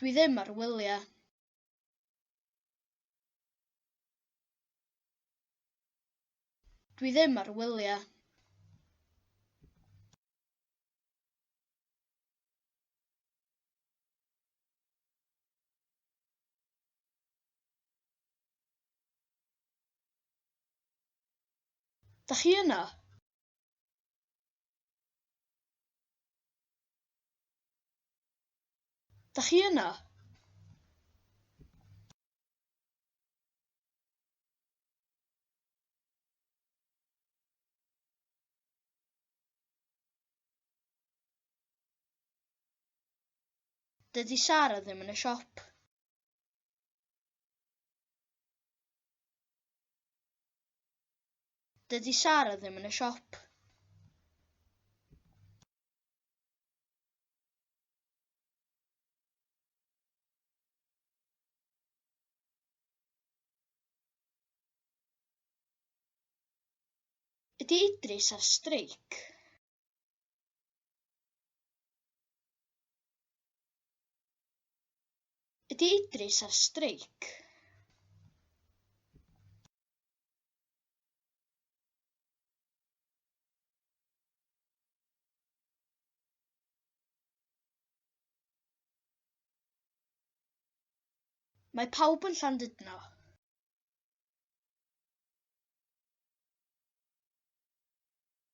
Dwi ddim ar wyliau. Dwi ddim ar wyliau. Dach chi yna? Dach chi yna? Dydy Sara ddim yn y siop. Dydy Sara ddim yn y siop. Ydy Idris ar streic? Ydy Idris ar streic? Mae pawb yn Llandudno.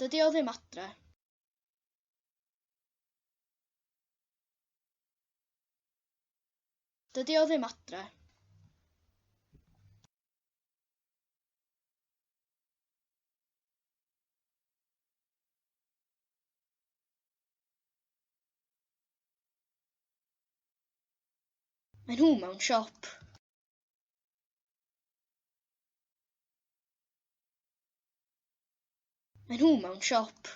Dydy o ddim adre. Dydy o ddim adre. Mae nhw mewn siop. Mae nhw mewn siop.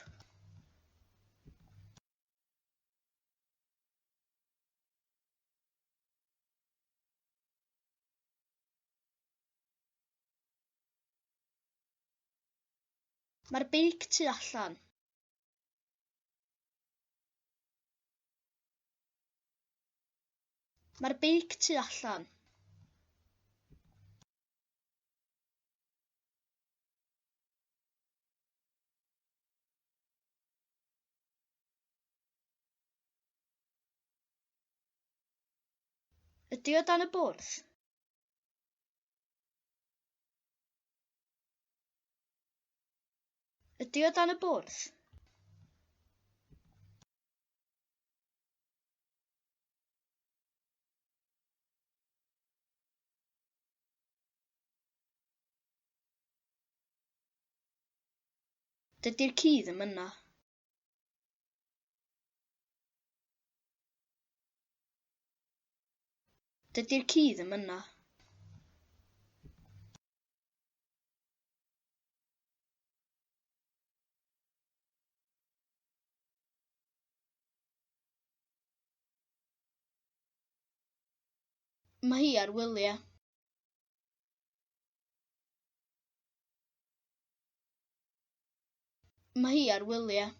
Mae'r beic tu allan. Mae'r beic tu allan. Ydy o dan y bwrdd? Ydy o dan y bwrdd? Dydy'r ci ddim yna. Dydy'r ci ddim yna. Mae hi ar wyliau. Mae hi ar wyliau.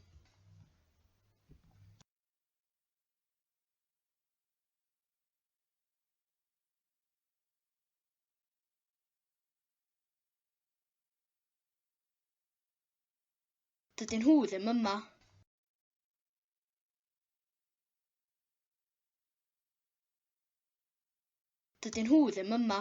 Dydyn nhw ddim yma. Dydyn nhw ddim yma.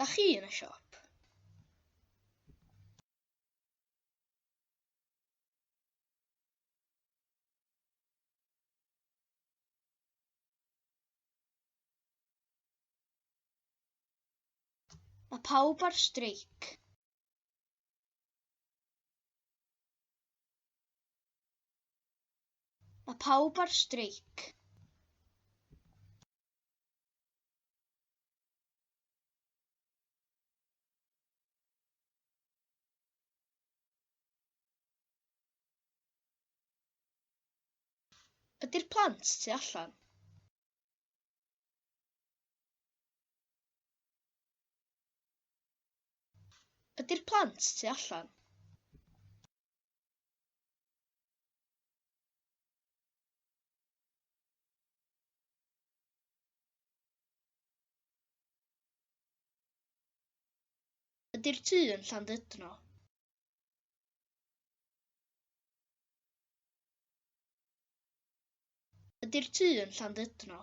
Da chi yn y siop? Mae pawb ar streic. Mae pawb ar streic. Ydy'r plant tu allan? Ydy'r plant tu allan? Ydy'r tŷ yn Llandudno? Ydy'r tŷ yn Llandudno?